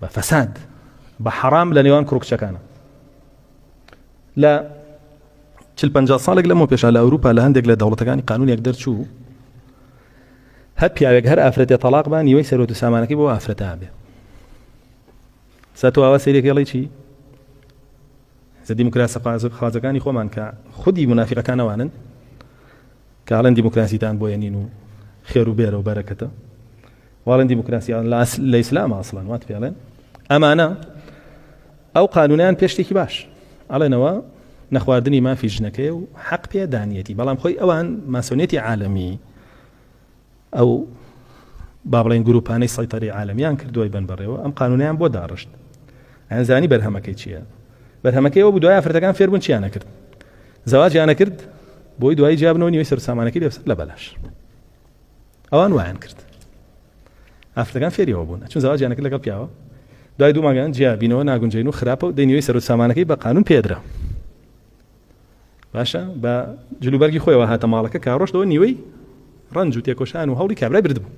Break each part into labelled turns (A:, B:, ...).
A: بە فەساد بە حەرام لە نێوان کوڕ کچەکانە لە چل پنجا ساڵێک لەمەوە پێشا لە ئەوروپا لە هەندێک لە دەوڵەتەکانی قانونێک دەرچوو هەر پیاوێک هەر ئافرەتێ تەلاق بان نیوەی سەرۆت و سامانەکەی بۆ ئافرەتا بێ ساتۆ ئاوا سەیرێک هێڵی چی زە دیموکراسە خوازەکانی خۆمان کە خودی منافقەکانەوانن کاڵەن دیموکراسیتان بۆیە نین و خێر و بێرە و بەرەکەتە واڵێن دیموکراسی لە ئیسلام ئاسڵان وات پێڵێن ئەمانە ئەو قانونیان پێ شتێکی باش ئەڵێنەوە نەخواردنی مافی ژنەکەی و حەق پێ دانیەتی بەڵام خۆی ئەوان ماسۆنێتی عالمی ئەو با بڵێن گروپانەی سەیتەری عالمیان کردوای بن بەڕێەوە ئەم قانونیان بۆ داڕشت ئەنزانی بەرهەمەکەی چییە بەرهەمەکەی ئەو دوای ئافرەتەکان فێربوون چیانە کرد زەواجیانە کرد بۆی دوای جیابنەوە نیوەی سەر سامانەکەی لەسەر لە بەلاش ئەوان وایان کرد ئافرەکان فێریەوە بوون چون زەواجیانەکە لەگەڵ پیاوە دوای دوو ماگەیان جیا بینەوە ناگونجین و خراپە و دەینەوەی سەر و سامانەکەی بە قانون پێدرا باشە بە جلوبەرگی خۆیەوە هاتە ماڵەکە کاڕۆشتەوە نیوەی ڕنج و تێکۆشان و هەوڵی کابرای بردبوو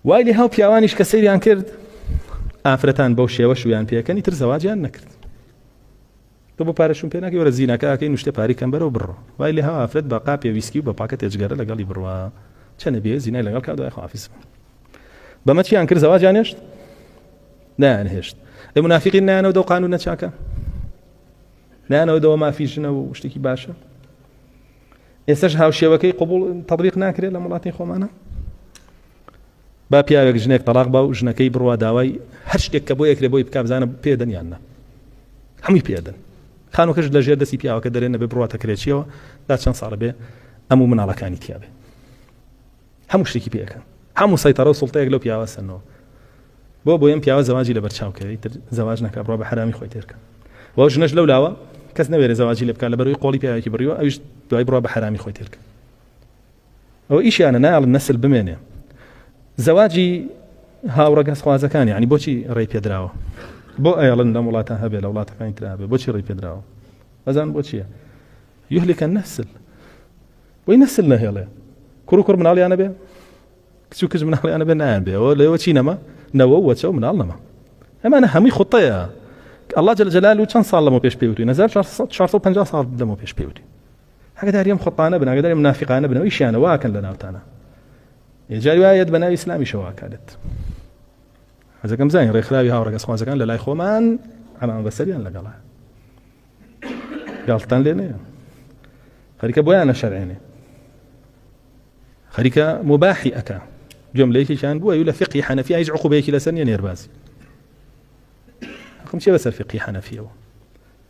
A: وای لێ هاو پیاوانیش کە سەیریان کرد ئافرەتان بەو شێوە شویان پێکەنی تر زەواجیان نەکرد تۆ بۆ پارە شوم پێناکەی وەرە زیناکە ئاکەی نوشتێ پاری کەم بەرەو بڕۆ وای لێ هەوا ئافرەت بە قاپێ ویسکی و بە پاکەتێ جگەرە لەگەڵی بڕوا چە نەبیێ زینای لەگەڵ کا دوای خۆافیس بن بەمە چیان کرد زەواجیان هێشت نایان هێشت ئەی منافقین نایانەوە دەو قانون نەچاکە نایانەوە دەوە مافی ژنە و شتێکی باشە ئێسش هاوشێوەکەی قوبول تەبیق ناکرێت لە وڵاتی خۆمانە با پیاوێک ژنێک تەڵاق با و ژنەکەی بڕوا داوای هەر شتێک کە بۆی ئەکرێ بۆی بکا بزانە پێدەن یان نا هەمووی پێدەن خانوەکەش لە ژێر دەستی پیاوەکە دەرێ نەبێ بڕواتە کرێچیەوە دا چەند ساڵە بێ ئەم و مناڵەکانی تیاابێ هەموو شتێکی پێەکەن هەموو سەیتەڕە و سڵتەیەک لەو پیاوە سەنەوە بۆ بۆ ئەم پیاوە زەواجی لە بەرچاوکەی تر زەواج نەکە بڕۆ بە حرامی خۆی تێرکە و ژنەش لەو لاوە کەس نەوێرە زەواجی لە بکە لە بەروی قۆڵی پیاوێکی بڕیوە ئەوش دوای بڕۆ بە حرامی خۆی تێرکە ئەوە ئیشیانە نایڵن نەسل بمێنێ زەواجی هاوڕەگەزخوازەکان یعنی بۆچی ڕێی پێدراوە بۆ ئەیڵن لەم وڵاتە هەبێ لە وڵاتەکانی ترا هەبێ بۆچی ڕێی پێدراوە ئەزان بۆچیە یهلکە نەسل بۆی نەسل نەهێڵێ کوڕ و کوڕ مناڵیانە بێ کچ و کچ مناڵیانە بێ نایان بێەوە لەوە چی نەما نەوە وەچە و مناڵ نەما ئەمانە هەمووی خوتەیە الله جل جلال و چەند ساڵ لەمە پێش پێوتوی 1950 ساڵ لەمە پێش پێوتی ئاگەداری ئەم خۆتانە بن ئاگەداری منافقانە بن ئەویشیانە واکەن لە ناوتانە جاری وایەت بە ناوی ئیسلامیشە واکالت حەزەکەم زانین ڕێکخراوی هاوڕەگەز خوازەکان لە لای خۆمان ئەمان بەسەریان لەگەڵە گاڵتان لێ نەیە خەریکە بۆیان نەشەرێنێ خەریکە مباحی ئەەکە گوێم لە یەکێکیان بووە لە فقی حەنەفی هیچ عقوبەیەکی لەسەر نیە نێربازی حکم چێ بەسەر فقی حەنەفیەوە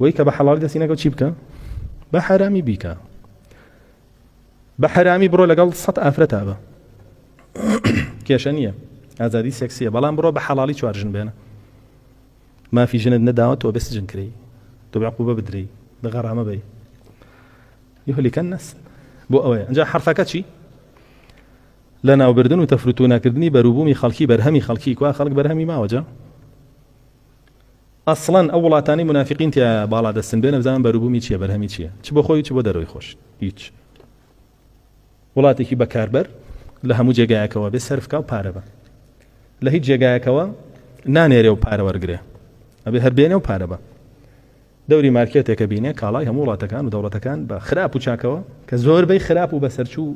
A: وەی کە بە حەڵال دەستی نەکەوت چی بکە بە حرامی بیکە بە حرامی بڕۆ لەگەڵ سەد ئافرەتا بە کێشە نییە ئازادی سێکسیە بەڵام بڕۆ بە حەڵی چوارژن بێنە مافی ژنت نەداوە تۆ بەسجن کری تۆ بەقوبە بدرێی بە غەرامە بی یهلیکەن نەس بۆ ئەوەیە ئەجا حرفەکە چی لە ناوبردن و تەفروتو ناکردنی بەروبوومی خەڵکی بەرهەمی خەڵکی کوا خەڵک بەرهەمی ماوەجە ئەسڵەن ئەو وڵاتانەی مونافیقین تیایە باڵا دەستن بێ نەبزانن بەروبومی چیە بەرهەمی چیە چ بۆ خۆی چ بۆ دەرەوەی خۆش هیچ وڵاتێکی بەکاربەر لە هەموو جێگایەکەوە بێ سەرفکە و پارە بە لە هیچ جێگایەکەوە نانێرێ و پارە وەرگێ ئەبێ هەر بێنێ و پارە بە دەوری مارکێتێکە بینێ کاڵای هەموو وڵاتەکان و دەوڵەتەکان بە خراپ و چاکەوە کە زۆربەی خراپ و بەسەرچوو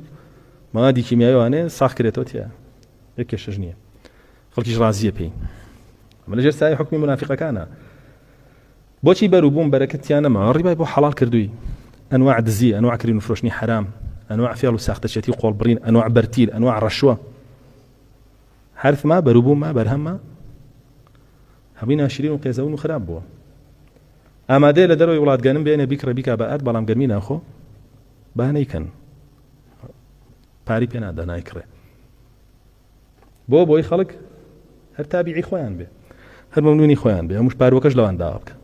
A: مادی کیمیاوانێ ساخکرێتەوە تیا یەکێشش نییە خەڵکیش ڕازیە پێی ئەمە لەژێر سایەی حوکمی مونافیقەکانە بۆچی بەر و بووم بەرەکەت تیا نەما ڕیبای بۆ حەڵال کردووی ئەنواع دزی ئەنواع کرین و فرۆشتنی حرام ئەنواع فێڵ و ساختەچێتی و قۆڵبڕین ئەنواع بەرتیل ئەنواع ڕەشوە حرف ما بەر و بووم ما بەرهەمە هەمووی ناشرین و قێزەون و خراپ بووە ئامادەیە لە دەرەوەی وڵاتگەنم بێنێ بیکڕە بیکا بە ئەرد بەڵام گەرمی ناخۆ با نەیکەن پاری پێ نادا نایکڕێ بۆ بۆی خەڵک هەر تابیعی خۆیان بێ هەر مەمنونی خۆیان بێ ئەمش پاروەکەش لەوان داوا بکە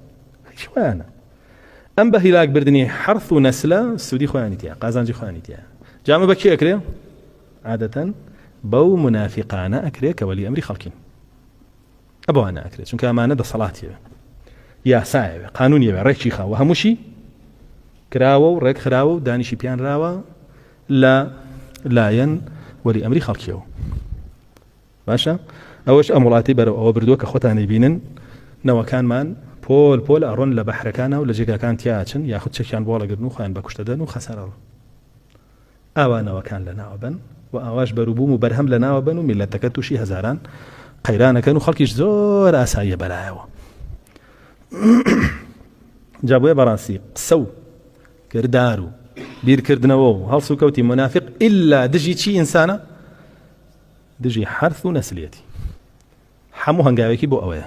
A: هیچ خۆیانە ئەم بە هیلاک بردننی حرف و نەسلە سوودی خۆیانی تیا قازانجی خۆیانی تیا جامە بە کێ ئەکرێ عادەتەن بەو منافقانە ئەکرێ کە وەلی ئەمری خەڵکین ئەبوانە ئەکرێ چونکە ئەمانە دەسەڵاتیەوە یاسایەوە قانونیەوە ڕێکی خاوە هەمووشی کراوە و ڕێک خراوە و دانیشی پیانراوە لە لایەن وەلی ئەمری خەڵکیەوە باشە ئەوەش ئەم وڵاتی بەرەو ئەوە بردووە کە خۆتانی بینن نەوەکانمان پۆل پۆل ئەڕۆن لە بەحرەکانە و لە جێگاکان تیاچن یاخود چەکیان بۆڵەگرن و خۆیان بەکوشتەدەن و خەسەرەوە ئاوانەوەکان لە ناوە بن و ئاواش بەروبووم و بەرهەم لە ناوە بن و میلەتەکە تووشی هەزاران قەیرانەکەن و خەڵکیش زۆر ئاساییە بەرایەوە جابێ بەڕاستی قسە و کردار و بیرکردنەوە و هەڵسوکەوتی مونافیق ئیلا دژی چی ئینسانە؟ دژی حەرث و نەسلیەتی هەموو هەنگاوێکی بۆ ئەوەیە